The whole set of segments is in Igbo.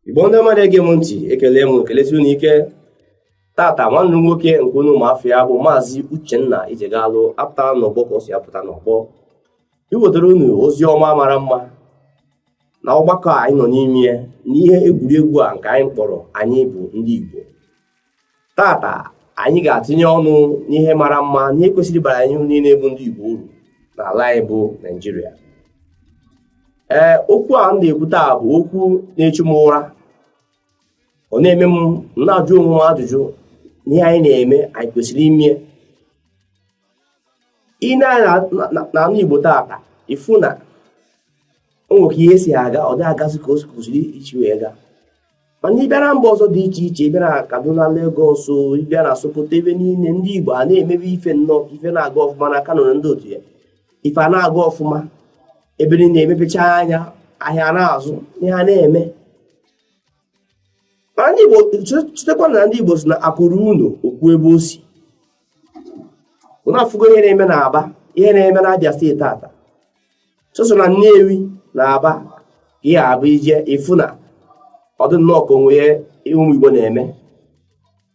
igbo ndị mmadụ ege m ntị ekele m unu ekelesi unu ike tata nwanne nwoke nke unu ụmụafọ ya bụ maazị uchenna ijegalụ apụtara n'ọgbọ ka o si apụta n'ọgbọ iwetara unu ozi ọma mara mma na ọgbakọ anyị nọ n'ime ya n'ihe egwuregwu a nke anyị kpọrọ anyị bụ ndị igbo tata anyị ga-atụnye ọnụ n'ihe mara mma n'ihe kwesịrị bara anyị niile bụ ndị Igbo uru n'ala anyị bụ Naịjirịa ee okwu a m na-ekwu taa bụ okwu na-echu m ụra ọ na-eme m na-ajụ onwe m ajụjụ n'ihe anyị na-eme anyị kwesịrị ime ya ị nee anya na ana Igbo tata ị fụ na o nwere ka ihe si aga ọ dịghị agazi ka o kwesịrị isi wee gaa mana ị bịa na mba ọzọ dị iche iche ị bịa na Kaduna Lagos ị bịa na Sokoto ebe niile ndị Igbo a na-emebe ife nnọọ ife na-aga ọfụma na Kano na ndị otu ya ife a na-aga ọfụma ebe niile e mepechaa anya ahịa na-azụ ihe a na-eme mana ndị Igbo chetakwa na ndị Igbo sị na akụ ruo ụnọ o kwuo ebe o si unu afụgo ihe na-eme na Aba ihe na-eme na Abia steeti tata sọsọ na Nnewi na Aba ka ọ ga-abụ i jee ị fụ na ọ dị nnọọ ka o nwere ihe ụmụ Igbo na-eme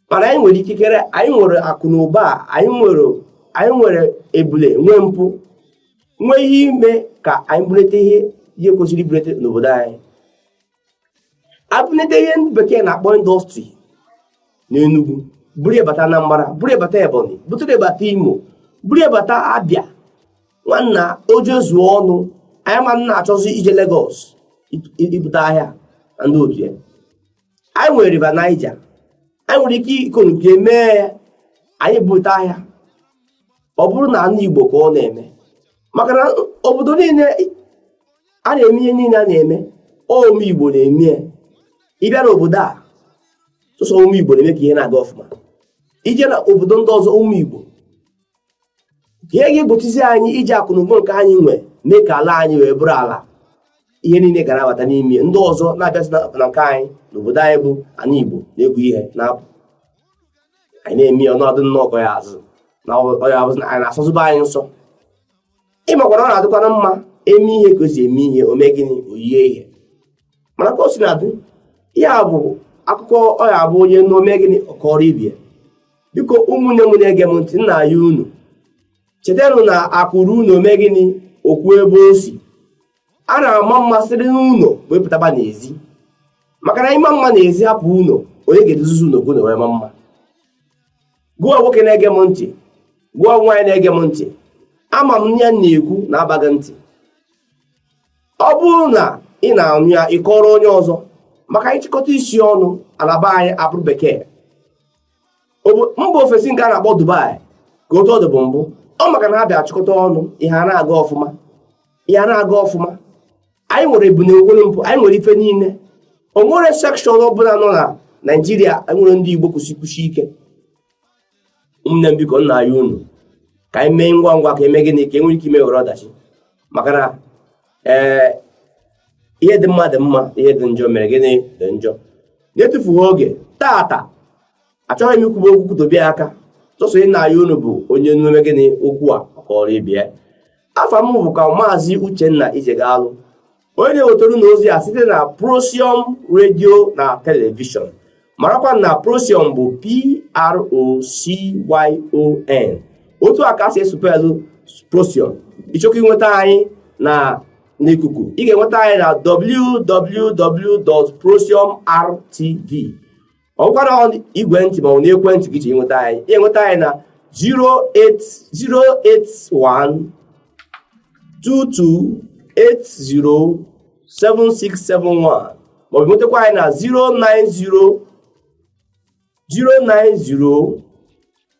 mana anyị nwere ikikere anyị nwere akụ na ụba anyị nwere anyị nwere ebule nwee mpụ nwee ihe ime ka anyị bulite ihe ihe kwesịrị ibulite n'obodo anyị e bunite ihe ndị bekee na-akpọ indọstrị n'Enugu buru bata Anambra buru bata Ebonyi buturu bata Imo buru bata Abia nwanna o jezuo ọnụ anyị ama na-achọzi ije Lagos ibute ahịa na ndị otu ya anyị nwere river Niger anyị nwere ike ikonuklie mee ya anyị ebute ahịa ọ bụrụ na ana Igbo ka ọ na-eme maka na obodo niile a na-eme ihe niile a na-eme ụmụ Igbo na-eme ya ị bịa n'obodo a sọsọ ụmụ Igbo na-eme ka ihe na-aga ọfụma i jee na obodo ndị ọzọ ụmụ Igbo kee ihe ga-egbochizi anyị iji akụnụba nke anyị nwee mee ka ala anyị wee bụrụ ala ihe niile ga na-abata n'ime ndị ọzọ na-abịazi na nke anyị n'obodo anyị bụ ana Igbo na-ebu ihe na-apụ anyị na-eme ya ọnọdụ nnọọ ya azụ na ọya na-asọzịba anyị nsọ ị makwara ọ na-adịkwana mma e mee ihe ka o si eme ihe o mee gịnị o yie ihe mana ka o sina dị ya bụ akụkọ ọ ya-abụ onye na o mee gịnị ọ kọọrọ ibe ya biko ụmụnne m na-ege m ntị nna ya unu chetanụ na akụ ruo ụnọ o mee gịnị o kwuo ebe o si a na-ama mma siri n'ụlọ wee pụtaba n'ezi maka na ị maa mma n'ezi hapụ ụlọ onye ga-edozi ụlọ gị na o wee maa mma gụọ nwoke na-ege m ntị gụọ nwaanyị na-ege m ntị ama m ihe m na-ekwu na-aba gị ntị ọ bụrụ na ị na-anụ ya ị kọọrọ onye ọzọ maka anyị chịkọta isi ọnụ Alaba anyị abụrụ bekee mba ofesi nke a na-akpọ Dubai ka otu ọ dịbu mbụ ọ maka na ha bịa chịkọta ọnụ ihe ana-aga ọfụma ihe ana-aga ọfụma anyị nwere ebune nwere mpu anyị nwere ife niile o nwere sekshọn ọbụla nọ na Naijiria anyị nwere ndị Igbo kwụsị kwụsị ike ụmụnne m biko na-ayọ unu ka anyị mee ngwa ngwa ka e mee gịnị ka e nwere ike ime were ọdachi maka na ee ihe dị mma dị mma ihe dị njọ mere gịnị dị njọ na-etufughị oge tata achọghị m ikwube okwu kwudobe aka sọsọ ihe m na-ayọ unu bụ onye nụ mee gịnị okwu a kọọrọ ibe ya afa m bụkwa Maazị Uchenna Ijegalụ onye na-ewetara unu ozi a site na Procyon redio na telivishọn marakwa na Procyon bụ p-r-o-c-y-o-n otu a ka e si esupelu Procyon ị chọkwa inweta anyị na n'ikuku ị ga-enweta anyị na www.procyonrtv ọ bụkwa n'igwe ntị maọbụ n'ekwentị ka ị ji enweta anyị ị nweta anyị na 08122807671 maọbụ nwetakwa anyị na 090 090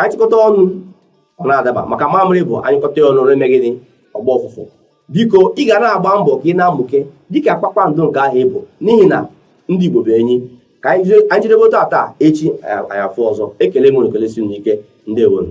achịkọta ọnụ ọ na-adaba maka mamịrị bụ anyụkọta ọnụ na-eme gịnị ọ gbaa ụfụfụ biko ị ga na-agba mbọ ka ị na-amụke dịka kpakpando nke ahụ ị bụ n'ihi na ndị Igbo bụ enyi ka anyị jidebe otu a taa echi anyị afụ ọzọ ekele m unu kelesie unu ike ndewonu